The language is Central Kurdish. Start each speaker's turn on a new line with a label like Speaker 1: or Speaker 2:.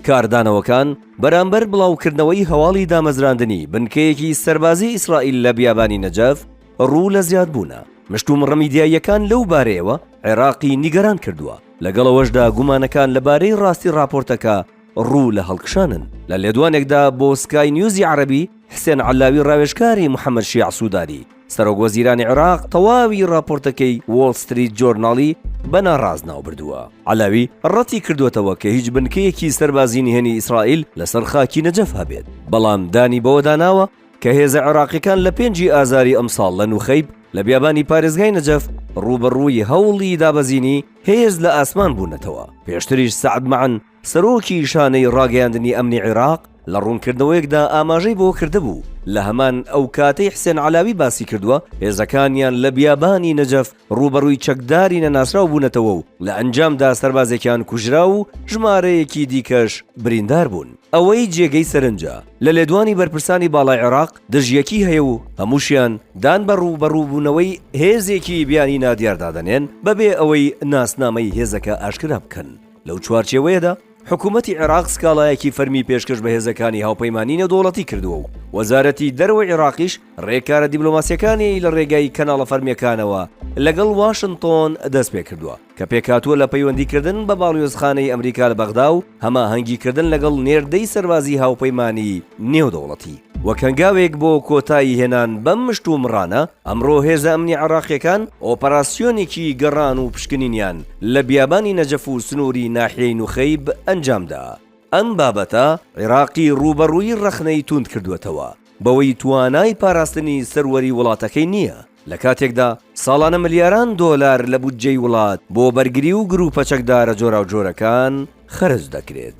Speaker 1: کاردانەوەکان بەرامبەر بڵاوکردنەوەی هەواڵی دامەزراندنی بنکەیەکی سەربازی ئیسرائیل لە بیابانی نەجەف ڕوو لە زیادبوونە، مشتومڕە میدیاییەکان لەو بارەیەوە عێراقی نیگەران کردووە، لەگەڵ ئەوەشدا گومانەکان لەبارەی ڕاستی ڕاپۆرتەکە ڕوو لە هەڵکشانن. لە لێدوانێکدا بۆ سکای نیوزی عەرەبی، حسێن عەلاوی ڕاوێژکاری محەممەد شیاع سوودانی، سەرۆکوەزیرانی عێراق تەواوی راپۆرتەکەی وۆڵ ستریت جۆرناڵی بە ناڕاست ناوبردووە. عەلاوی رەتیکردووەتەوە کە هیچ بنکەیەکی سەربازی نهێنی ئیسرائیل لەسەر خاکی نەجەف هەبێت، بەڵام دانی بەوەدا ناوە کە هێزە عێراقییەکان لە پێنجی ئازاری ئەمساڵ لە نوخەیب لە بیابانی پارێزگای نەجەف رووبەڕووی هەوڵی دابەزینی هێز لە ئاسمان بوونەتەوە. پێشتریش سەعد مەعن، سەرۆکی شانەی ڕاگەیاندنی ئەمنی عێراق لە ڕوونکردنەوەیەکدا ئاماژەی بەوە کردبوو، لە هەمان ئەو کاتەی حسێن عەلاوی باسی کردووە، هێزەکانیان لە بیابانی نەجەف ڕووبەڕووی چەکداری نەناسراو بوونەتەوە و لە ئەنجامدا سەربازێکیان کوژرا و ژمارەیەکی دیکەش بریندار بوون. ئەوەی جێگەی سەرنجە، لە لێدوانی بەرپرسانی باڵای عێراق دژیەکی هەیە و هەمووشیان دان بە ڕووبەڕووبوونەوەی هێزێکی بیانی نادیاردا دەنێن بەبێ ئەوەی ناسنامەی هێزەکە ئاشکرا بکەن. لەو چوارچێوەیەدا حکوومەتی عێراق سکاڵایەکی فەرمی پێشکەش بە هێزەکانی هاوپەیمانانی نێودەوڵەتی کردووە و وەزارەتی دەرەوەی عێراقیش ڕێکارە دیبلۆماسیەکانی لە ڕێگای کەناڵە فەرمیەکانەوە لەگەڵ واشنتۆن دەست پێ کردووە کە پێکاتووە لە پەیوەندیکردن بە باڵیۆزخانەی ئەمریکا لە بەغدا و هەماهەنگیکردن لەگەڵ نێردەی سەربازی هاوپەیمانانی نێودەوڵەتی وەک هەنگاوێک بۆ کۆتایی هێنان بەم مشتومڕانە ئەمڕۆ هێزە ئەمنی عێراقییەکان ئۆپەراسیۆنێکی گەڕان و پشکنینیان لە بیابانی نەجەف و سنووری ناحیەی نوخەیب ئەنجامدا. ئەم بابەتە عێراقی ڕووبەڕووی ڕەخنەی تووند کردووەتەوە بەوەی توانای پاراستنی سەروەری وڵاتەکەی نییە، لە کاتێکدا ساڵانە ملیاران دۆلار لە بودجەی وڵات بۆ بەرگری و گرووپە چەکدارە جۆراوجۆرەکان خەرج دەکرێت.